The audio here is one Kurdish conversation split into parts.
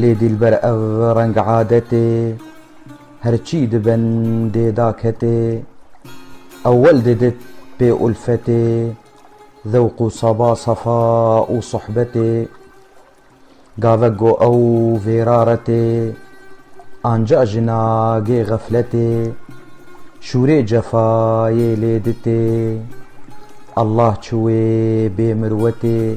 Lê dîlber ev reng adetê, Her çî dibin dê da ketê. Ewel didit pê ulfetê, Zewq û seba sefa û sohbetê. Gavek go ew vêra retê, Anca ji nagê xefletê. Şûrê cefayê lê ditê, Allah çi wê bê mirwetê.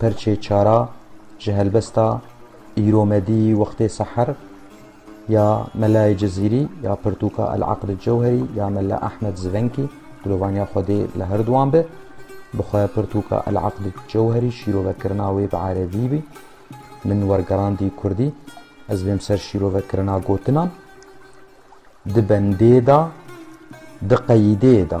Perçê çara ji helbesta îromedî wextê seher ya Melayê Cizîrî ya pirtûka El Aqd Cewherî ya Mela Ehmed Zivenkî, dilovaniya Xwedê li her duwan be, bi xwe pirtûka El Aqd Cewherî şîrovekirina wê bi erebî bî, min wergerandî kurdî, ez bên ser şîrovekirina gotinan, di bendê de, di qeyîdê de.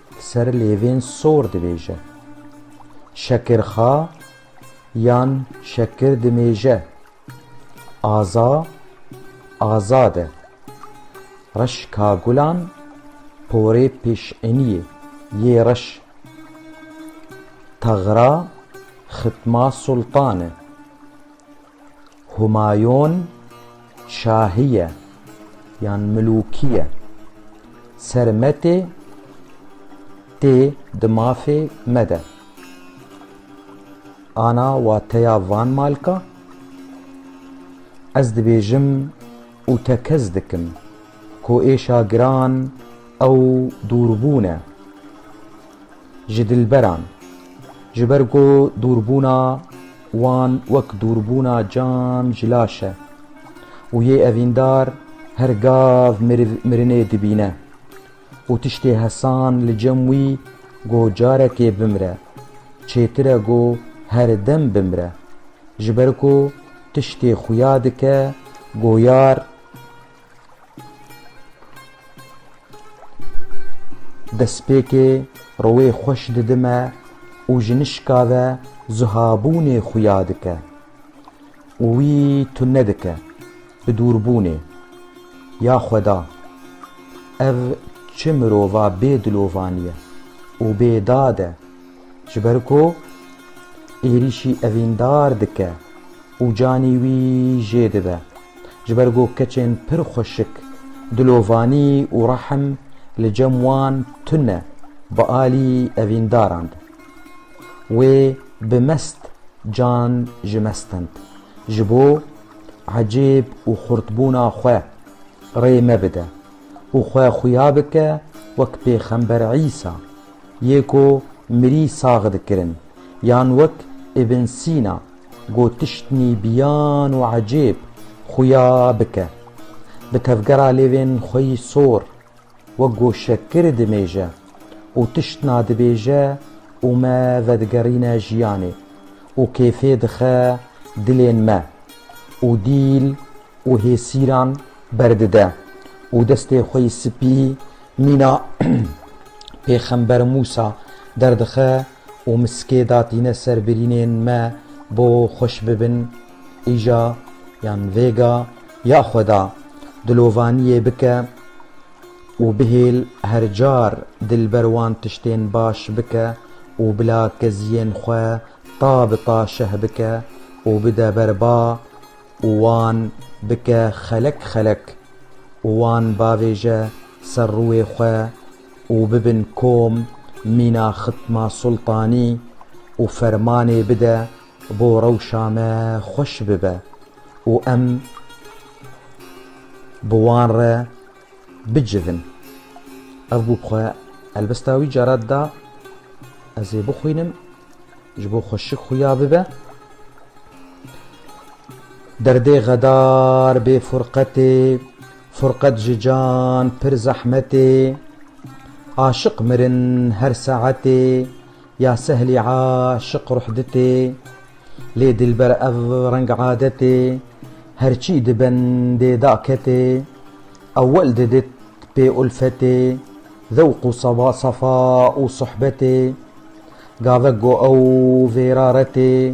Ser lêvên sor dibêje. Şekirxa yan şekir dimêje. Aza azad e. Reş ka gulan porê pêşeniyê yê reş. Taxra xitma sultan e. Humayon şahiye yan milûkiye ser me tê tê di mafê me de. Ana wateya van malka ez dibêjim û tekez dikim ku êşa giran ew dûrbûn e. ji dilberan, ji ber ku dûrbûna wan wek dûrbûna can ji laş e û yê evîndar her gav meriv mirinê dibîne û tiştê hesan li cem wî ku carekê bimire çêtir e ku her dem bimire, ji ber ku tiştê xuya dike ku yar. Destpêkê rewê xweş didime û ji nişka ve zihabûnê xuya dike û wî tune dike bi dûrbûnê. Ya xweda, ev çi mirova bê dilovan ye û bê dad e ji ber ku êrîşî evîndar dike û canî wî jê dibe. Ji ber ku keçên pir xweşik, dilovanî û rehm li cem wan tune bi alî evîndaran de. Wê bi mest can ji me stend. Ji bo ecêb û xurtbûna xwe rê me bide û xwe xuya bike wek Pêxember Îsa yê ku mirî sax dikirin yan wek Îbn Sîna Got tiştnî biyan û ecêb xuya bike. Bi tevgera lêvên xwe yî sor wek goşekir dimêje û tiştna dibêje û me vedigerîne jiyanê û kêfê dixe dilên me û dîl û hêsîran berdide û destê xwe yî spî mîna Pêxember Mûsa derdixe Û miskê datîne ser birînên me bo xweş bibin, îja yan vêga ya xweda dilovaniyê bike û bihêl her car dil ber wan tiştên baş bike û bila keziyên xwe ta bi ta şeh bike û bide ber ba û wan bike xelek xelek û wan bavêje ser rûê xwe û bibin kom mîna xitma sultanî û fermanê bide bo rewşa me xweş bibe û em bi wan re bicivin. Ev bû bi xwe helbesta wî carat da ez ê bixwînim ji bo xwe şik xuya bibe. Derdê xedar bê furqetê Furqet ji can pir zehmetê. Aşiq mirin her saetê. Ya sehlî aşiq ruh ditê. Lê dilber ev reng adetê. Her çî di bendê da ketê. Ewel didit pê ulfetê. Zewq û safa û suhbetê. Gavek got ew vêra retê.